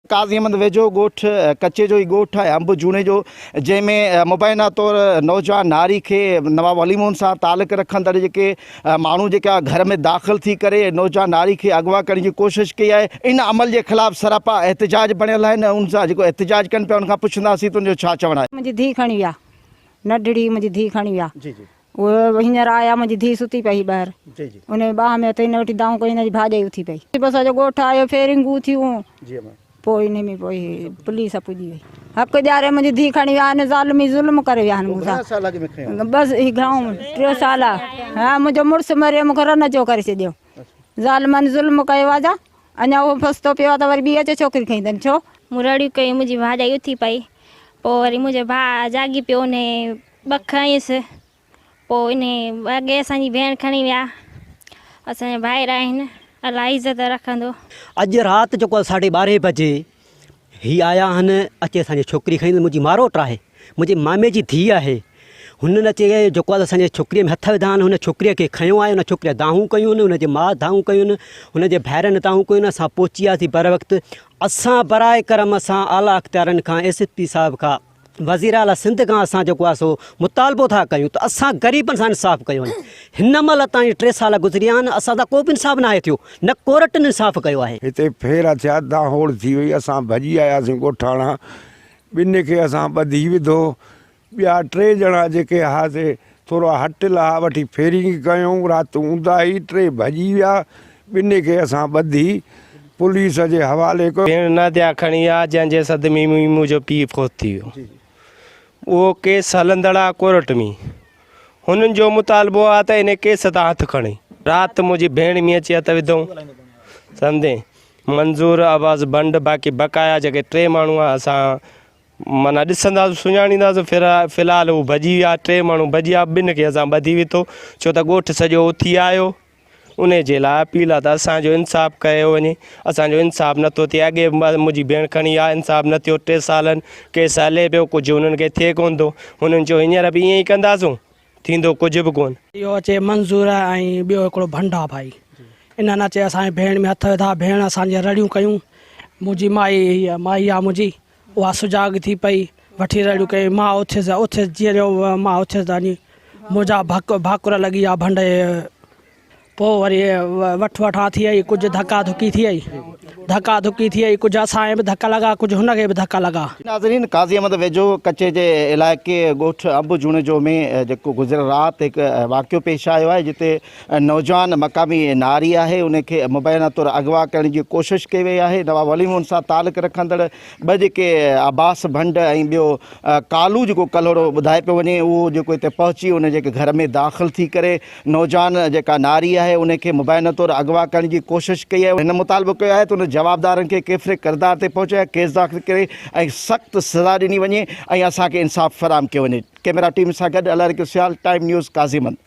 قاضي احمد ويجهو ڳوٺ ڪچي جو ئي ڳوٺ آهي انب جوڻي جو جنهن ۾ مبينا طور نوجوان ناري کي نواب علي موهن سان تعلق رکندڙ جيڪي ماڻهو جيڪا گهر ۾ داخل ٿي ڪري نوجوان ناري کي اغوا ڪرڻ جي ڪوشش ڪئي آهي ان عمل جي خلاف سراپا احتجاج بڻيل آهن ۽ ان سان جيڪو احتجاج ڪن پيا ان کان پڇنداسين ته ان جو ڇا چوڻ آهي. منهنجي ڌي کڻي ويا نڍڙي منهنجي ڌي کڻي ويا اهو هينئر آيا منهنجي ڌيء ستي پئي هئي ٻاهر ان جي ٻانهن ۾ هٿ هن وٺي دانهون ڪيائين هن جي ڀاڄائي اٿي پئي پوء سڄو ڳوٺ آيو فيرنگون ٿيون پوء ان ۾ پوء پوليس پڄي وئي حق ڏياري منهنجي ڌيء کڻي ويا آهن ظالمي ظلم ڪري ويا آهن مون سان بس هي گهڻو ٽي سال ها منهنجو مڙس مري مون کي رن جو ڪري ڇڏيو ظالمن ظلم ڪيو آ جا اڃا اهو فستو پيو آ ته وري ٻي اچي ڇوڪري کڻي اٿن ڇو مون رڙيون ڪيون منهنجي ڀاڄائي اٿي پئي پوء وري منهنجو ڀاء جاڳي پيو ان ٻه کنئيس، پوء انهي وڳي اسان جي ڀيڻ کڻي ويا، اسان جا ڀائر آهن، الله عزت رکندو. اڄ رات جيڪو آهي ساڍي ٻارهين بجي هي آيا آهن، اچي اسان جي ڇوڪري کڻي، منهنجي ماروٽ آهي، منهنجي مامي جي ڌيء آهي، هنن اچي جيڪو آهي اسان جي ڇوڪريء ۾ هٿ وڌا آهن، هن ڇوڪريء کي کنيو آهي، ان ڇوڪريء دانهون ڪيون، هن جي ماء دانهون ڪيون، هن جي ڀائرن دانهون ڪيون، اسان پهچي وياسين بروقت، اسان براء ڪرم سان اعليٰ اختيارين کان ايس ايس پي صاحب کان، وزيراعليٰ سنڌ کان اسان جيڪو آهي سو مطالبو ٿا ڪيون ته اسان غريبن سان انصاف ڪيو وڃي هن مهل تائين ٽي سال گذري ويا آهن اسان سان ڪو به انصاف ناهي ٿيو نه ڪورٽن انصاف ڪيو آهي. هتي ڦيرا ٿيا دانهوڙ ٿي وئي اسان ڀڄي آياسين ڳوٺاڻا ٻنهي کي اسان ٻڌي وڌو ٻيا ٽي ڄڻا جيڪي هئاسي ٿورا هٽ لها وٺي ڦيرينگ ڪيون، رات اونداهي ٽي ڀڄي ويا، ٻنهي کي اسان ٻڌي پوليس جي حوالي ڪيو. پڻ ناديا کڻي آ، جنهن جي صدمي ۾ منهنجو پيء فوت ٿي ويو. اهو ڪيس هلندڙ آ ڪورٽ ۾. هنن جو مطالبو آ ته انهي ڪيس تان هٿ کڻي. رات منهنجي ڀيڻ مينهن اچي هٿ وڌئون. سندين منظور عباس بنڊ باقي بقايا جيڪي ٽي ماڻهو آ اسان معنيٰ ڏسنداسون سڃاڻينداسون في الحال هو ڀڄي ويا ٽي ماڻهو ڀڄي ويا ٻن کي اسان ٻڌي ويتو ڇو ته ڳوٺ سڄو اٿي آيو انهي جي لاء اپيل آ ته اسان جو انصاف ڪيو وڃي اسان جو انصاف نه ٿو ٿئي اڳي منهنجي ڀيڻ کڻي آ انصاف نه ٿيو ٽي سالن ڪيس هلي پيو ڪجهه انهن کي ٿئي ڪونه ٿو انهن چيو هينئر به ائين ئي ڪنداسون ٿيندو ڪجهه به ڪون. اهو اچي منظور ۽ ٻيو هڪڙو ڀنڊ آ ڀائي انهن اچي اسان جي ڀيڻ ۾ هٿ وڌا ڀيڻ اسان جي رڙيون ڪيون منهنجي مائي هي مائي آ منهنجي اها سجاڳ ٿي پئي وٺي رڙيون ڪيائين ماء اٿيس اٿيس جيئن جو ماء اٿيس ته وڃي منهنجا ڀاڪر لڳي آ ڀنڊ پوء وري وٺ وٺان ٿئي ڪجهه ڌڪا ڌڪي ٿئي ڌڪا ڌڪي ٿئي ڪجهه اسان به ڌڪ لڳا ڪجهه هن کي به ڌڪ لڳا. ناظرين قاضي احمد ويجهو ڪچي جي علائقي ڳوٺ انب جوڻيجو ۾ جيڪو گذريل رات هڪ واقعو پيش آيو آهي جتي نوجوان مقامي ناري آهي ان کي مبينا طور اغوا ڪرڻ جي ڪوشش ڪئي وئي آهي نواب ولي مون سان تعلق رکندڙ ٻه جيڪي عباس ڀنڊ ۽ ٻيو ڪالو جيڪو ڪلهوڙو ٻڌائي پيو وڃي اهو جيڪو هتي پهچي ان جي گهر ۾ داخل ٿي ڪري نوجوان جيڪا ناري آهي ان کي مبينا طور اغوا ڪرڻ جي ڪوشش ڪئي آهي هن مطالبو ڪيو آهي ته ان جوابدارن کي ڪيفر ڪردار تي پهچي ۽ ڪيس داخل ڪري ۽ سخت سزا ڏني وڃي ۽ اسان کي انصاف فراهم ڪيو وڃي ڪيميرا ٽيم سان گڏ الاريڪو سيال ٽائيم نيوز قاضي مند.